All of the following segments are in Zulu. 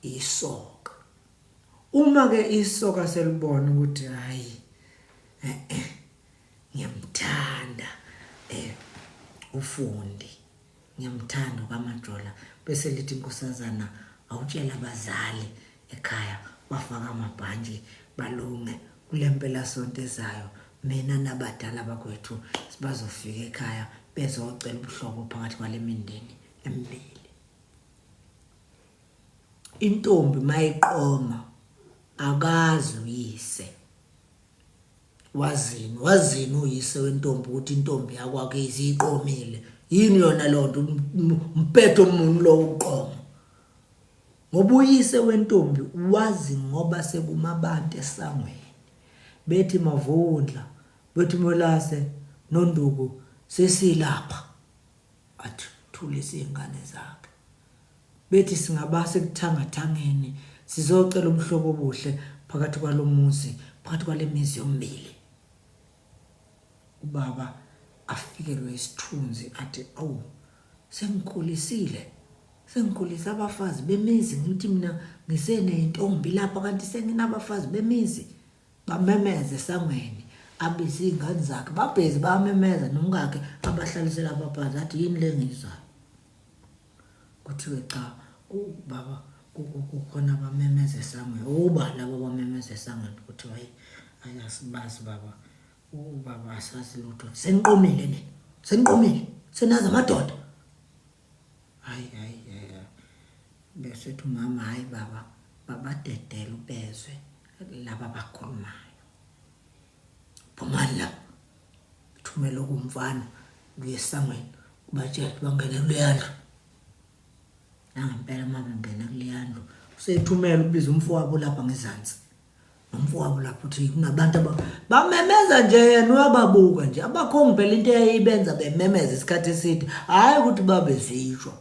isoka uma ke isoka selibona ukuthi hayi eh, eh, ngiyamthanda eh ufundi ngiyamthanda uKamajola bese lithi inkosazana awutshela abazali ekhaya bafaka amabhantshi balunge kule mpelasonto ezayo mina nabadala bakwethu sibazofika ekhaya bezocela ubuhlobo phakathi kwale mindeni emibili Intombi mayiqoma akazi uyise. Wazini wazini uyise wentombi ukuthi intombi yakwakizi iqomile. Yini yona lonto umpetho umuntu lo uqoma. Ngoba uyise wentombi wazi ngoba sekumabantu esangweni. Bethi mavundla, bethi molase nonduku sesilapha. Athulise izingane zakhe. Bethi singabasa ekuthangathangeni sizocela ubuhlobo obuhle phakathi kwalomuzi, phakathi kwalemizi yomibili. Ubaba afikelwe isithunzi athi awu sengikhulisile. Sengikhulisa abafazi bemizi ngithi mina ngiseneyintombi lapha kanti senginabafazi bemizi. Bamemeza esangweni abize izingane zakhe babhizi bamemeza nomkakhe abahlalisela abaphansi athi yini lengizwayo kuthiwe cha ubaba kukhona abamemeza esangweni uba laba bamemeza esangweni kuthiwa hayi ayasibazi baba ubaba asazi lutho seniqomile nina seniqomile senazi amadoda Hayi hayi hayi. Besethi umama hayi baba babadedela ubezwe laba bakhulumayo. Phumani la. Thumela okumfana kuye esangweni ubatshele bangene kuleyandlu. Nangempela mama ngena kuleyandlu. Usethumela ubiza umfowabo lapha ngezansi. nomfowabo lapho uthi kunabantu bamemeza nje yena uyababuka nje abakhongi phela into eyayibenza bememeza isikhathi eside hhayi ukuthi babezishwa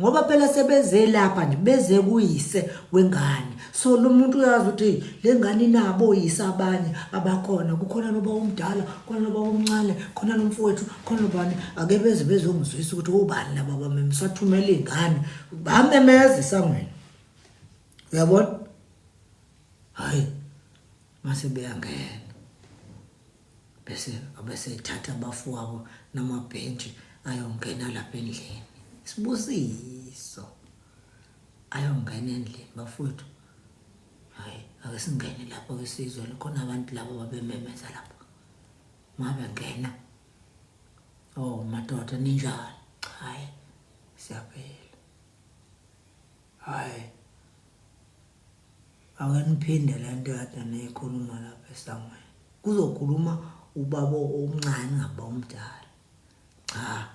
ngoba phela sebeze lapha nje beze kuyise wengane so lo muntu uyazi ukuthi le ngane inabo oyise abanye abakhona kukhona noba omdala khona noba omncane khona nomfowethu khona nobani ake beze bezongizwisa ukuthi obani laba bameme sathumela iy'ngane bamemeza esangweni uyabona hayi mase beyangena bese abese thatha abafowabo namabhentshi ayongena lapha endlini sibusiso ayongena endlini bafowethu hayi ake singene lapho ke sizwe khona abantu labo babememeza lapho mabe ngena oh madoda ninjani hayi siyaphila Hai ake niphinde lento kade niyikhuluma lapha esangweni. Kuzokhuluma ubaba omncane ngaba umdala. Cha.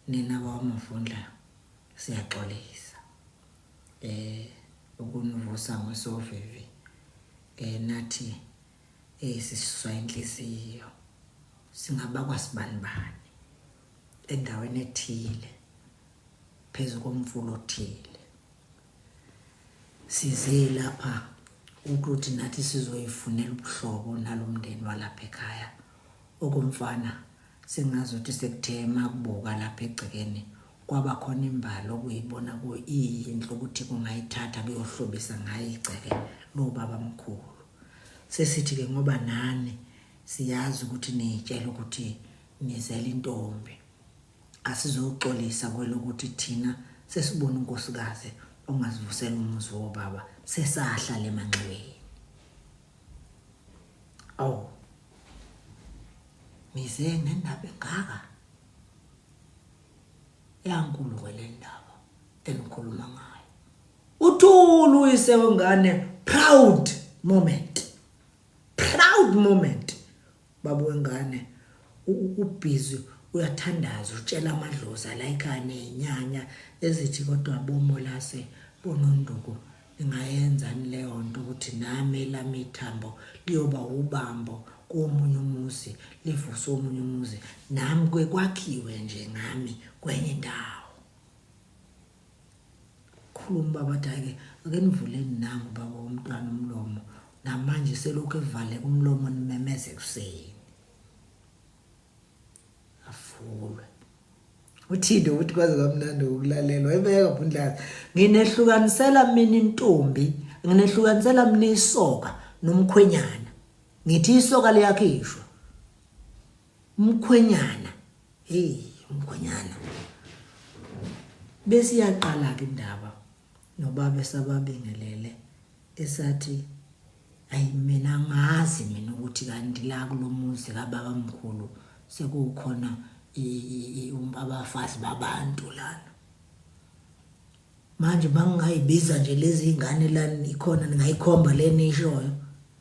Nina bawamafundla siyaxolisa. Eh ukunivusa ngosovivi. Eh nathi eh siswa inhliziyo. Singaba kwasibani bani. endaweni ethile phezu komfula othile size lapha ukuthi nathi sizoyifunela ubuhlobo nalomndeni walapha ekhaya okumfana singazothi sekuthe makubuka lapha egcekeni kwaba khona imbali okuyibona kuyinhle ukuthi kungayithatha kuyohlobisa ngayo igceke lobaba mkhulu sesithi-ke ngoba nani siyazi ukuthi niyitshela ukuthi Ngizele intombi. Asizoxolisa kwelokuthi thina sesibone unkosikazi ongasivusela umuzi wobaba sesahla le manxiweni. Awu. Nize nendaba engaka? Yankulu kwelendaba enikhuluma ngayo. Uthulu uyise wengane proud moment. Proud moment. Baba wengane u busy uyathandaza utshela amadlozi alayika nenyanya ezithi kodwa bo Molase bo Nonduku ningayenzani leyonto ukuthi nami elami ithambo liyoba wubambo komunye umuzi livuse omunye umuzi nami kuke kwakhiwe nje ngami kwenye indawo. Khuluma ubaba wathi hhayi-ke ake nivuleni nangu ubaba womntwana umlomo namanje uselokhu evaleka umlomo nimemeza ekuseni avulwe uthinde ukuthi kwaze kwamnandi ukulalelwa ebeka bundlazi nginehlukanisela mina intombi nginehlukanisela mina isoka nomkhwenyana ngithi isoka liyakhishwa Mkhwenyana. Hey, mkhwenyana. Bese iyaqala ke indaba nobaba esababingelele esathi ayi mina ngazi mina ukuthi kanti la kulomuzi kababa mkhulu sekukhona abafazi babantu lana manje bangingayibiza nje lezi ngane lani ikhona ningayikhomba le nishoyo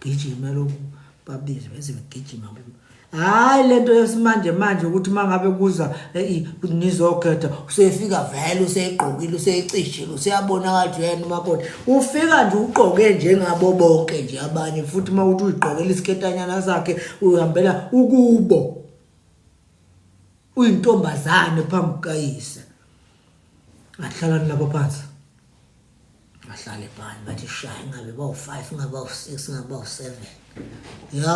Gijima lokhu babize bese begijima kulo. Hayi lento yesimanje manje ukuthi mangabe kuza ngizokhetha usefika vele usegqokile usecishile useyabona kathi yena umakoti ufika nje ugqoke njengabo bonke nje abanye futhi uma uthi uyigqokela isiketanyana sakhe uhambela ukubo uyintombazane phambi kukayise ahlala nabo phansi Bahlale phansi bathi shaya ingabe bawu-five ingabe bawu-six ingabe bawu-seven ya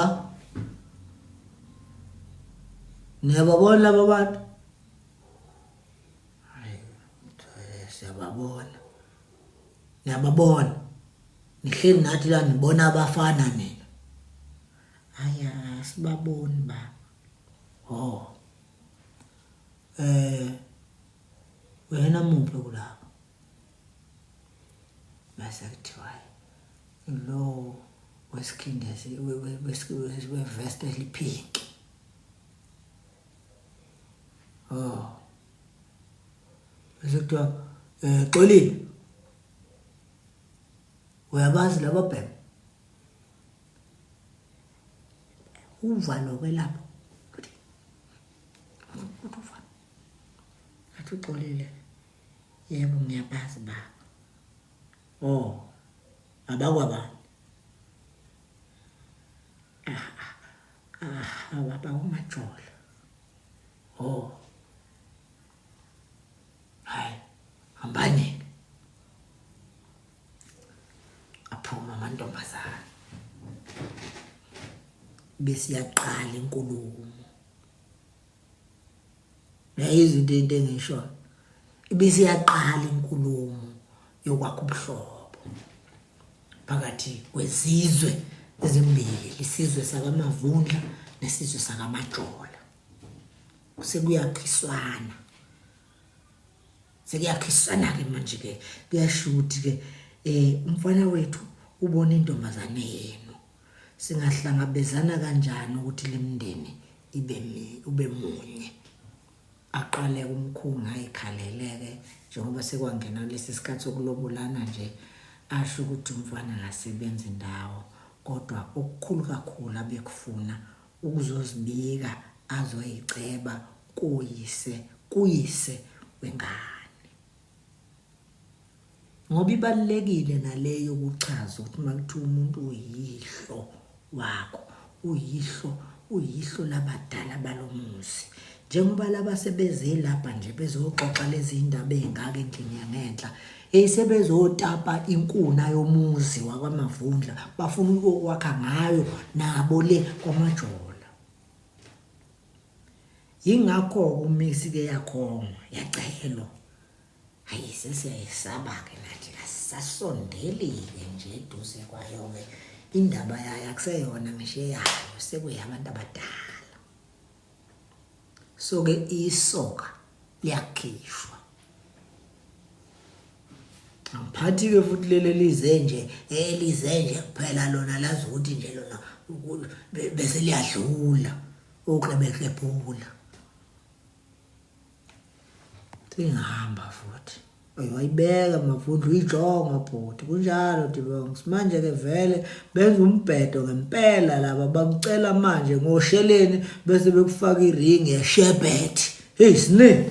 niyababona laba bantu siyababona niyababona nihleli nathi la nibona abafana nina hayi asibaboni baba o oh. um eh, wena muphi kulapho mase kuthiwa lowo wesikhindezi wevest eliphinki o oh. mase kuthiwa um eh, xolile uyabazi laba bhema uva nokwelapha ukuthi uthi uva athi uxolile Yebo ngiyabazi baba. Oh abakwabani? Awu abakwaMajola. Oh hhayi hambani-ke. Aphume amantombazane. Bese iyaqala inkulumo. nayo izinto into engisho ibise yaqala inkulumo yokwakha ubuhlobo phakathi kwezizwe ezimbili isizwe sakamavundla nesizwe sakamajola sekuyakhiswana sekuyakhiswana ke manje ke kuyashuthi ke eh umfana wethu ubona intombazane yena Singahlangabezana kanjani ukuthi lemndeni ibe mi ube munye. Aqale umkhulu ngayikhaleleke njengoba sekwangena lesi sikhathi sokulobolana nje asho ukuthi umfana ngasebenza indawo kodwa okukhulu kakhulu abekufuna ukuzozibika azoyiceba kuyise kuyise wengane. Ngoba ibalulekile nale yokuchaza ukuthi uma kuthiwa umuntu uyihlo wakho, uyihlo, uyihlo labadala balomuzi. Njengoba laba sebeze lapha nje bezoxoxa lezi indaba ezingaka endlini yangenhla, eyi sebezotapa inkuna yomuzi wakwaMavundla, bafuna ukuyokwakha ngayo nabo le kwaMajola. Yingakho-ke uMiss ike yakhongwa, yacehelwa. Hhayi, sesiyayesaba-ke nathi, asisasondeli-ke nje eduze kwayo-ke. Indaba yayo akuseyona ngisho eyayo, sekuyabantu abadala. So-ke isoka liyakhishwa. Angiphathi-ke futhi leli elize nje, elize nje kuphela lona lazi ukuthi nje lona bese liyadlula. uklebeklebhula singihamba futhi wayibeka mavundla uyijonga bhuti kunjalo dibongs manje-ke vele benza umbhedo ngempela laba bakucela manje ngosheleni bese bekufaka iringi yeshebhethi heyi siningi